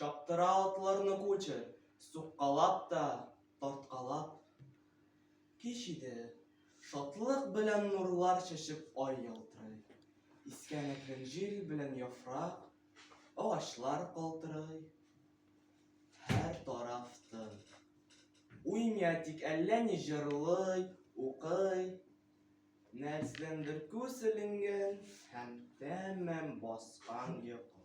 Чаптыра атларны кучы, суккалап та, тарткалап. Кич иде, шатлык белән нурлар чәчеп ай ялтырый. Искән әкрен җил белән яфрак, агачлар калтырый. Һәр тараф тын. Уймия тик әллә ни җырлый, укый. Нәрсәдәндер күз эленгән һәм тәмам баскан йокы.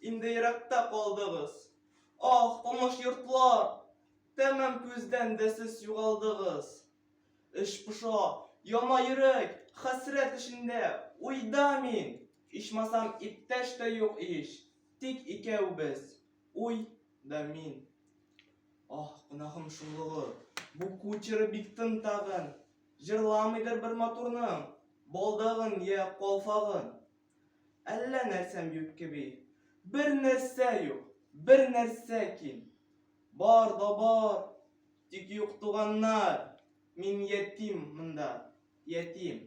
Инде еракта калдыгыз. Ах, тыныш йортлар! Тәмам күздән дә сез югалдыгыз. Эч поша, яна йөрәк, хәсрәт эчендә, уйда мин. Ичмасам, иптәш тә юк ич, тик икәү без, уй да мин. Ах, гөнаһым шуллыгы, бу кучеры бик тын тагын. Җырламыйдыр бер матурның, балдагын я калфагын. Әллә нәрсәм юк кеби. Бер нәрсә юк, бер нәрсә ким. Бар да бар, тик юк туганнар. Мин ятим монда, ятим.